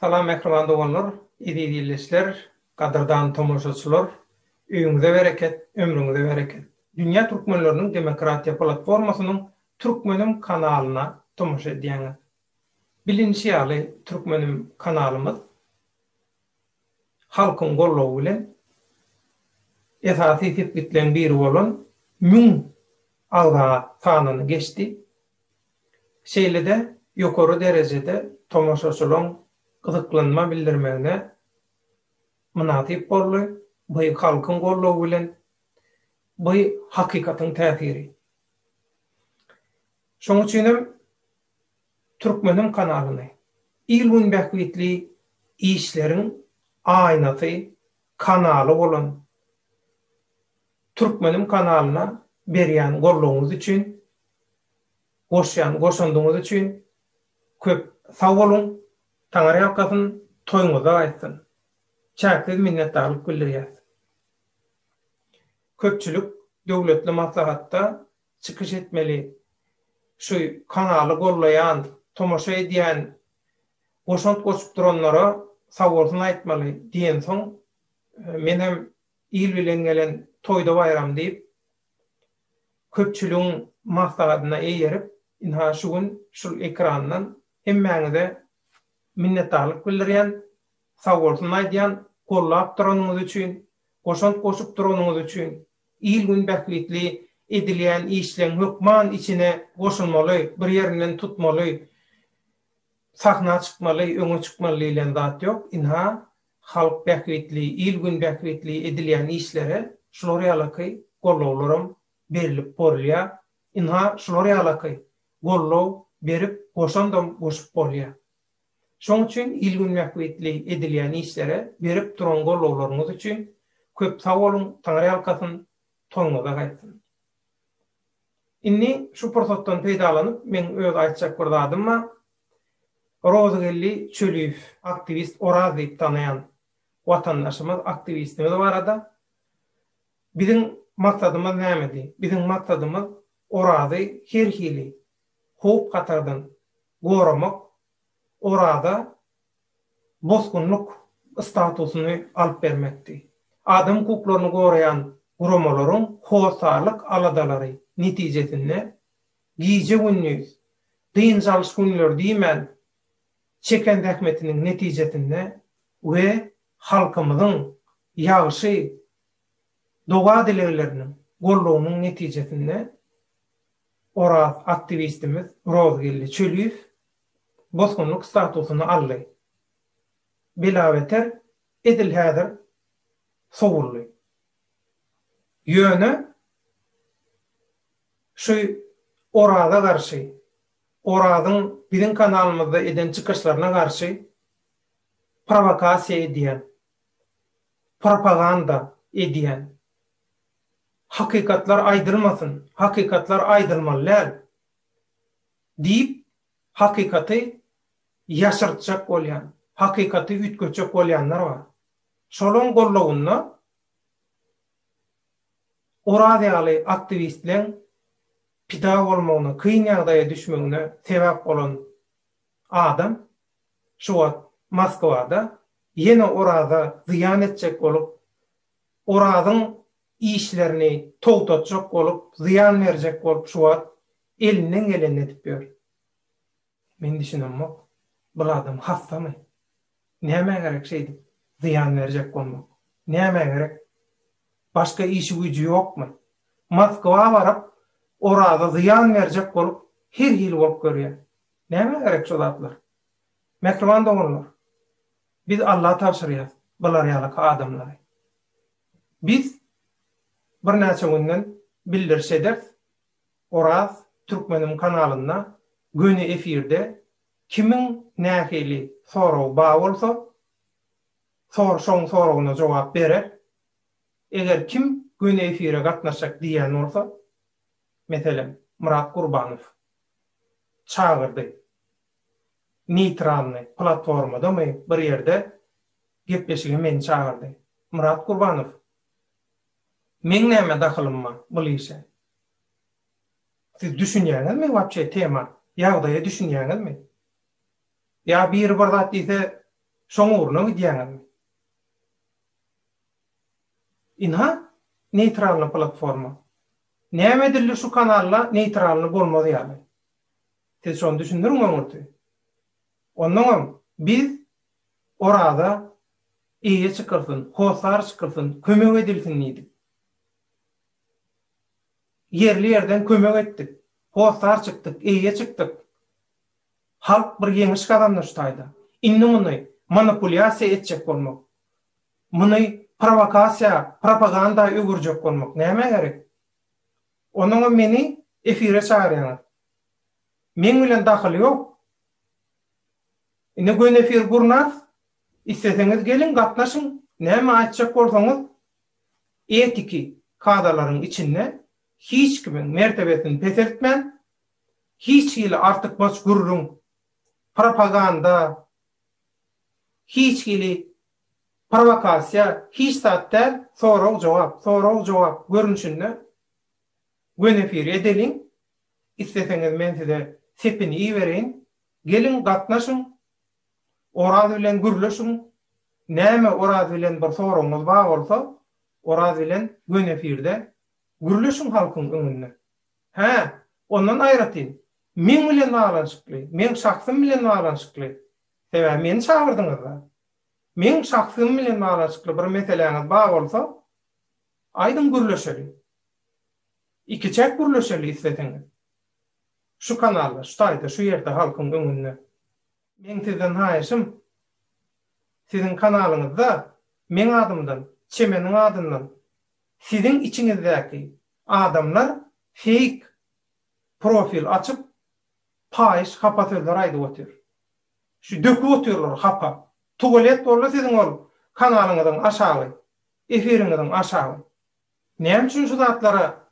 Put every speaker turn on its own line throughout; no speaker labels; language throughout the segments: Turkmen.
Salam mähriban doganlar, eziz ildeşler, gadyrdan tomaşaçylar! Öýüňize bereket, ömrüňize bereket! Dünýä Türkmenleriniň Demokratiýa Platformasynyň Türkmenim kanalyna tomaşa edýäňiz. Bilinişi ýaly, Türkmenim kanalymyz halkyň goldawy bilen esasy sepgitleň biri bolan müň agza sanyny geçdi. Şeýle-de ýokary derejede tomaşaçylaryň gyzyklanma bildirmegine mynasyp boldy, by halkyň goldawy bilen, by hakykatyň täsiri. Şoň üçin hem Türkmeniň kanalyny il-gün bähbitli işleriň aýnasy, kanaly bolan Türkmeniň kanalyna berýän goldawyňyz üçin goşýan goşandyňyz üçin köp sag boluň Taňyrýalkasyn toýuňyzda gaýtsyn Çäksiz minnetdarlyk bildirýäs Köpçülik döwletli maslahatda çykyş etmeli Şu kanaly gollaýan tomaşa edýän goşant goşup duranlara sagbolsun aýtmaly diýensoň menem il bilen gelen toýda baýram diýip Köpçüligiň maslahatyna eýerip, ynha şu gün şul ekrandan hemmäňize minnetdarlyk bildirýän, sagbolsun aýdýan, gollap duranyňyz üçin, goşant goşup duranyňyz üçin, il-gün bähbitli edilýän işleň hökman içine goşulmaly, bir ýerinden tutmaly, sahna çykmaly, öňe çykmaly diýlen zat ýok, ynha, Halk bähbitli, il-gün bähbitli edilýän işlere şular ýalaky gollawlaram berilip borulýar. Ynha, şular ýalaky gollaw berip, goşandam goşup bolýar. Şoň üçin il-gün bähbitli edilýän işlere berip duran gollawlaryňyz üçin köp sag boluň, Taňryýalkasyn, toýuňyza gaýtsyn! Indi şu pursatdan peýdalanyp, meň öz aýtjak bir zadym bar. Rozygeldi Çöliýew aktiwist Oraz diýip tanaýan watandaşymyz, aktiwistimiz barada, Biziň maksadymyz nämedi? Biziň maksadymyz Orazy her hili howp-hatardan goramak, Oraza bosgunlyk statusyny alyp bermekdi. Adam hukuklaryny goraýan guramalaryň hossarlyk aladalary netijesinde Gije-gündiz, dynç alyş günleri diýmän, çeken zähmetiniň netijesinde we halkymyzyň ýagşy doga-dilegleriniň, goldawynyň netijesinde Oraz aktiwistimiz Rozgeldi Çöliýew bosgunlyk statusyny aldy. Belabeter edil häzir sowuldy. Ýöne. Şu Oraza garşy, Orazyň biziň kanalymyzda eden çykyşlaryna garşy prowokasiýa edýän, propaganda edýän. Hakykatlar aýdylmasyn, hakykatlar aýdylmaly däl diýip, hakykaty ýaşyrtjak bolýan, hakykaty üýtgetjek bolýanlar bar. Şolaň gollawynda Oraz ýaly aktiwistleň pida bolmagyna, kyn ýagdaýa düşmegine sebäp bolan adam şu wagt Moskwada ýene Oraza zyýan etjek bolup, Orazyň işlerini togtatjak bolup, zyýan berjek bolup şu wagt elinden gelenini edip ýör. Men düşünemok, bul adam hassamy? Nämä gerek şeýdip zyýan berjek bolmak? Nämä gerek? Başga işi-güýji ýokmy? Moskwa baryp, Oraza zyýan berjek bolup, her hili bolup görýär. Nämä gerek şu zatlar? Mähriban doganlar, biz Alla tabşyrýas bular ýalyka adamlary. Biz birnäçe günden bildiriş ederis, Oraz Türkmeniň kanalynda göni efirde kimiň nähili soragy ba bolsa sor şoň soragyna jogap berer. Eger kim göni efire gatnaşjak diýýän bolsa meselem Myrat Gurbanow çagyrdy neýtralny platformadamy bir ýerde gepleşige meni çagyrdy. Myrat Gurbanow Meň näme dahylym bar bul işe? Siz düşünýäňizmi wapşe tema, ýagdaýa düşünýäňizmi? Ýa biri bir zat diýse şoň ugruna gidýäňizmi? Ynha, neýtralny platforma. Näme edildi şu kanalda neýtralny bolmaz ýaly? Siz şony düşündiriň öňürti. Onnoňam biz Oraza eýe çykylsyn, hossar çykylsyn, kömek edilsin diýdik. Ýerli-ýerden kömek etdik. Hossar çykdyk, eýe çykdyk. Halk bir ýeňiş gazandy şu taýda. Indi muny manipulýasiýa etjek bolmak, muny prowokasiýa, propaganda öwürjek bolmak nämä gerek? Onnoňam meni efire çagyrýaňyz. Meň bilen dahyly ýok. Ine göni efir gurnas, isleseňiz geliň gatnaşyň, näme aýtjak bolsaňyz etiki kadalaryň içinde hiç kimiň mertebesini peseltmän, hiç hili artykmaç gürrüň, propaganda, hiç hili prowokasiýa hiç zat däl, sorag-jogap, sorag-jogap görnüşinde göni efiri edeliň, isleseňiz men size sepini ibereýin, Geliň gatnaşyň! Oraz bilen gürleşiň! Näme Oraz bilen bir soragyňyz bar bolsa, Oraz bilen gön efirde gürleşiň halkyň öňünde. Hä, ondan aýratyn, meň bilen baglanyşykly, meň şahsym bilen baglanyşykly, sebäbi meni çagyrdyňyz-da. Meň şahsym bilen baglanyşykly bir meseläňiz bar bolsa, aýdyň gürleşeli. Ikiçäk gürleşeli isleseňiz. Şu kanalda, şu taýda, şu ýerde halkyň öňünde. Meň sizden haýyşym, siziň kanalyňyzda meň adymdan, Çemeniň adyndan siziň içiňizdäki adamlar feýk profil açyp, paýyş hapa sözler aýdyp otyr. Şu döküp otyrlar hapa. Tuwalet boldy siziň ol kanalyňyzyň aşagy, efiriňiziň aşagy. Näme üçin şu zatlara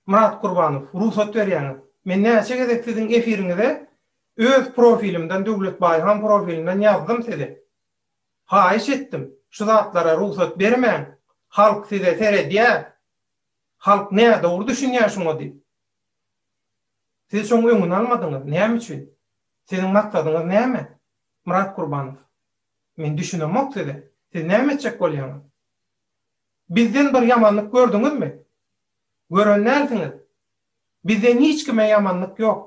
Myrat Gurbanow rugsat berýäňiz? Men näçe gezek siziň efiriňize öz profilimden Döwlet Baýhan profilinden ýazdym size. Haýyş etdim, şu zatlara rugsat bermäň, halk size seredýär, halk nädogry düşünýär şuňa diýip. Siz şoň öňüni almadyňyz, näme üçin? Siziň maksadyňyz näme? Myrat Gurbanow. Men düşünemok size. Siz näme etjek bolýaňyz? Bizden bir ýamanlyk gördüňizmi? Gören dälsiňiz. Bizden hiç kime ýamanlyk ýok.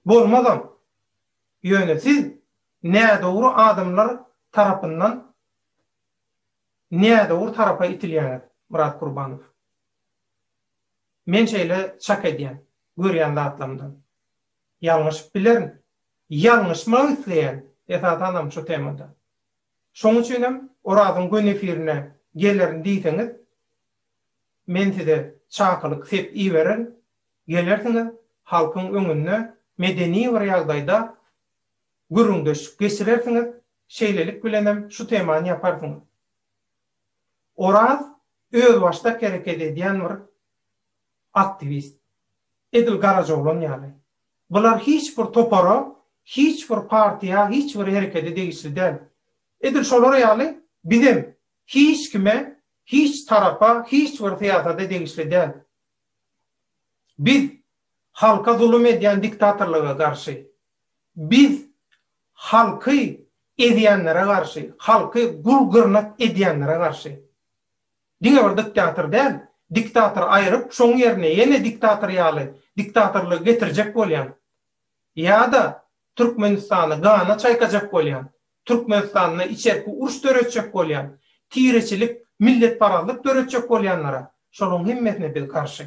Bolmazam. Ýöne siz nädogry adamlar tarapyndan nädogry tarapa itilýäňiz, Myrat Gurbanow. Men şeýle çak edýän, görýän zatlarymdan. Ýalňyşyp bilerin. Ýalňyşmak isleýän, esasanam şu temada. Şoň üçin hem Orazyň göni efirine gelerin diýseňiz, men size çakylyk sep ibererin, gelersiňiz, halkyň öňünde medeni bir ýagdaýda gürrüňdeşlik geçirersiňiz, şeýlelik bilen hem şu temany ýaparsyňyz. Oraz özbaşdak hereket edýän bir Aktiwist. Edil Garajaoglan ýaly. Bular hiç bir topara, hiç bir partiýa, hiç bir herekede degişli däl. Edil şolar ýaly bizem hiç kime, hiç tarapa, hiç bir syýasada degişli däl. Biz halka zulum edýän diktatorlyga garşy. Biz halky ezýänlere garşy, halky gul-gyrnak edýänlere garşy. Diňe bir diktator däl, diktatory aýryp, şoň ýerine ýene diktator ýaly diktatorlygy getirjek bolýan. Ýa-da Türkmenistany gana çaýkajak bolýan, Türkmenistanda içerki uruş döretjek bolýan, tireçilik, milletparazlyk döretjek bolýanlara şolaň hemmesine biz garşy.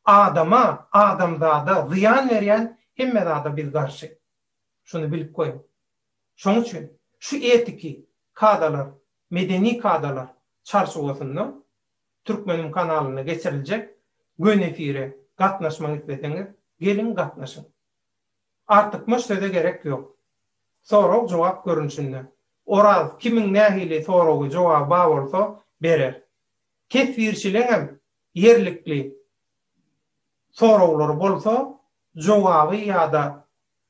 Adama, adamzada zyýan berýän hemme zada biz garşy. Şuny bilip goýuň. Şoň üçin şu etiki kadalar Medeni kadalar çarçuwasynda Türkmenim kanalynda geçiriljek Gön efire gatnaşmak isleseňiz, geliň gatnaşyň. Artykmaç söze gerek ýok. Sorag-jogap görnüşinde. Oraz kimiň nähili soragy, jogaby bar bolsa, berer. Teswirçileňem ýerlikli soraglary bolsa, jogaby ýa-da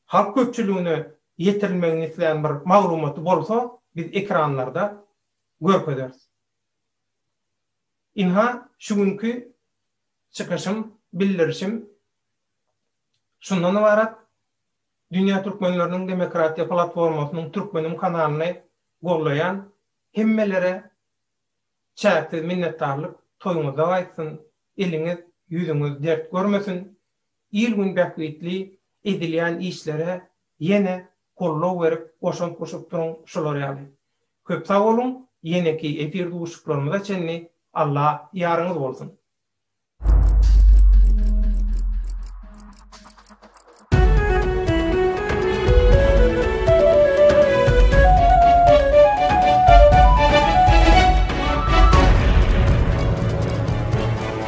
Halk köpçüligine ýetirilmegini islän bir maglumaty bolsa biz ekranlarda görkezeris. Ynha şu günki çykyşym, bildirişim şundan ybarat. Dünýä Türkmenleriniň Demokratiýa Platformasynyň Türkmenim kanalyny gollaýan hemmelere çäksiz minnetdarlyk, toýuňyzda gaýtsyn, eliňiz, ýüzüňiz dert görmesin, Il-gün bähbitli edilýän işlere ýene goldaw berip goşant goşup duruň şular ýaly. Köp sag boluň ýeneki efir duşuşyklarymyza çenli Alla ýaryňyz bolsun.